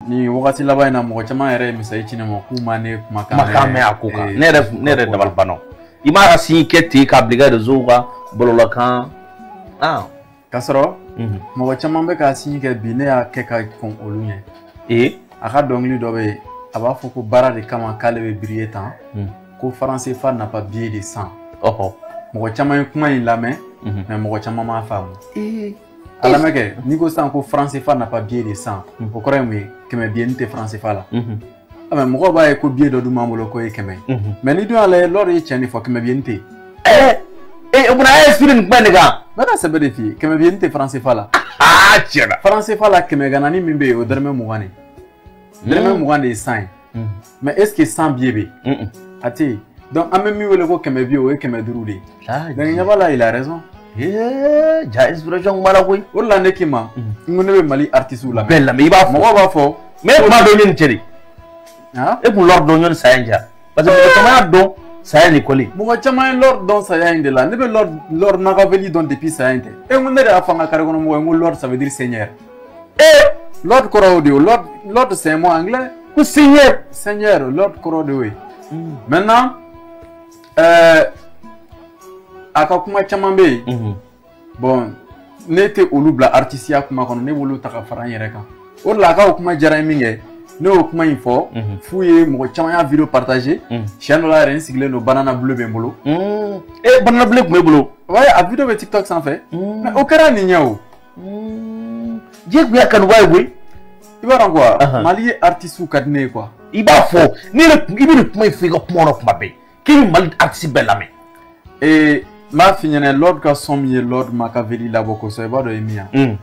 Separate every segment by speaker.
Speaker 1: nin wagati laban in na mɔgɔ caman yɛrɛ ye mesazi ci ne ma k'u ma ne kumakan kumakan mɛn a ko
Speaker 2: kan ne yɛrɛ ne yɛrɛ dabali banna i m'a sin kɛ ten k'a bila i ka rezow kan bɔlɔlɔkan ah.
Speaker 1: k'a sɔrɔ mhm. mɔgɔ caman bɛ k'a sin kɛ bi ne y'a kɛ ka kɔn olu ɲɛ ee a ka dɔnkili dɔ bɛ yen a b'a fɔ ko baara de kama k'ale bɛ biriye tan mhm. ko franc CFA n'a pas billet de cent mɔgɔ caman ye kuma in lamɛn mɛ mhm. mɔgɔ caman m'a faamu a lamɛn kɛ n'i ko sisan ko franc CFA n'a pas billet de cent o kɔrɔ ye mun ye kɛmɛ biye ni tɛ faransifa la mɛ mɔgɔw b'a ye ko biye dɔ dun b'an bolo k'o ye kɛmɛ ye mɛ n'i dun y'a lajɛ lord ye cɛn de fɔ kɛmɛ biye ni tɛ yen o kuma na
Speaker 2: a ye siri nin kuma in de kan n bɛ ka sɛbɛ de f'i
Speaker 1: ye kɛmɛ biye ni tɛ faransifa la aa tiɲɛ
Speaker 2: na faransifa la kɛmɛ
Speaker 1: ganani min bɛ yen o dɔrɔmɛ mugan de dɔrɔmɛ mugan de ye cent ye mais est ce que cent biye bɛ yen a tɛ yen donc an bɛ min wele ko kɛmɛ biye o ye kɛmɛ duuru de ye donc tiɲɛ b'a la il a raison ee ja
Speaker 2: inspiration kuma la koyi o de la ne k'i ma
Speaker 1: n ko ne bɛ mali artiste la bɛɛ lamɛn i b'a fɔ mɔgɔw b'a fɔ
Speaker 2: mais
Speaker 1: e tun b'a dɔn yanni
Speaker 2: cɛ de e tun lord dɔn yanni saya in cɛ parce que mɔgɔ caman y'a dɔn saya in de kɔli mɔgɔ caman ye lord dɔn
Speaker 1: saya in de la ne bɛ lord lord makaveli dɔn depuis saya in tɛ e ko ne de y'a fɔ an ka kare kɔnɔ mɔgɔw ye n ko lord ça veut dire seigneur ee lord kɔrɔ o de ye lord lord c'est un mot anglais ko
Speaker 2: seigneur
Speaker 1: seigneur lord kɔrɔ de y'o ye hmm. maintenant euh, a ka kuma caman bɛ yen mhm. bon ne tɛ olu bila artisiya kuma kɔnɔ ne b'olu ta ka fara n yɛrɛ kan o de la a ka o kuma diyara n ye min kɛ ne y'o kuma in fɔ mhm. f'u ye mɔgɔ caman y'a video partager mhm. siɲɛ dɔ la yɛrɛ n sigilen don banana bulu bɛ n bolo ee banana
Speaker 2: bulu tun b'e bolo a video bɛ tiktok
Speaker 1: sanfɛ o kɛra nin ɲɛ o
Speaker 2: diɲɛ tun y'a kanubaa ye koyi i b'a dɔn
Speaker 1: quoi malien artisiw ka di ne ye quoi i b'a fɔ ne
Speaker 2: yɛrɛ i bɛ nin kuma in fɔ i ka kuma kɔnɔ kuma bɛɛ k'i bɛ mali artisi bɛɛ lamɛn ee n b'a f'i
Speaker 1: ɲɛna lord ka son min ye lord makaveli labɔ kosɛbɛ i b'a dɔn ye min ye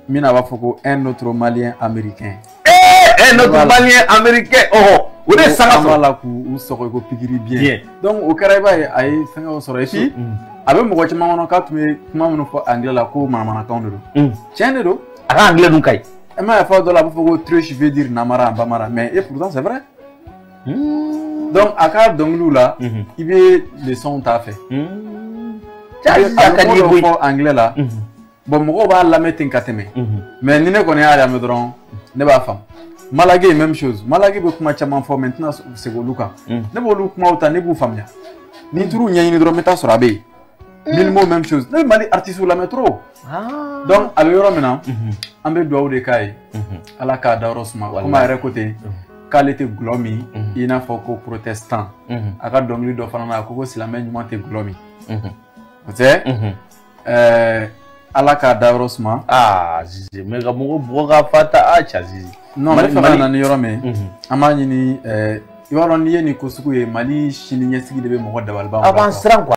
Speaker 1: min na a b'a fɔ ko un autre malien américain ee un
Speaker 2: autre malien américain ɔhɔ o de ye sanga sɔrɔ an b'a la k'u
Speaker 1: sɔgɔ ko pikiri biyɛn donc o kɛra i b'a ye a ye fɛngɛw sɔrɔ et puis a bɛ mɔgɔ caman kɔnɔ k'a tun bɛ kuma minnu fɔ anglais la ko manamanakanw de don tiɲɛ de don a ka anglais dun ka
Speaker 2: ɲi e m'a ye fɔ dɔ la a b'a
Speaker 1: fɔ ko triche veut dire namara en bambara mais et pourtant c'est vrai donc a ka dɔnkiliw la i bɛ leçonw t'a fɛ a bɛ kuma dɔ fɔ anglais la bɔn mɔgɔw b'a lamɛn ten ka tɛmɛ mɛ ni ne kɔni y'a lamɛn dɔrɔn ne b'a faamu malakey même chose malakey bɛ kuma caman fɔ mɛ n tɛna segin olu kan ne b'olu kumaw ta ne b'u faamuya ni n taar'u ɲɛɲini dɔrɔn n bɛ taa sɔrɔ a bɛ yen mylmo même chose ne bɛ mali artiste lamɛn trop donc a bɛ yɔrɔ min na an bɛ dugawu de k'a ye ala k'a dayɔrɔ suma komi a yɛrɛ ko ten k'ale tɛ dɔlɔ min i n'a fɔ ko protestant a ka dɔnkili dɔ fana na a ko ko silamɛ ɲuman tɛ dɔlɔ min o tɛ ɛɛ ala k'a dayɔrɔ suma. aa zizi
Speaker 2: mɛ ka mɔgɔ bugɔ k'a fa ta a ca zizi. non n b'a fɛ ka na ni
Speaker 1: yɔrɔ min an b'a ɲini ɛɛ i
Speaker 2: b'a
Speaker 1: dɔn n'i ye nin ko sugu
Speaker 2: ye
Speaker 1: mali sini
Speaker 2: ɲɛsigi
Speaker 1: de bɛ mɔgɔ dabali ban. a b'an siran kuwa.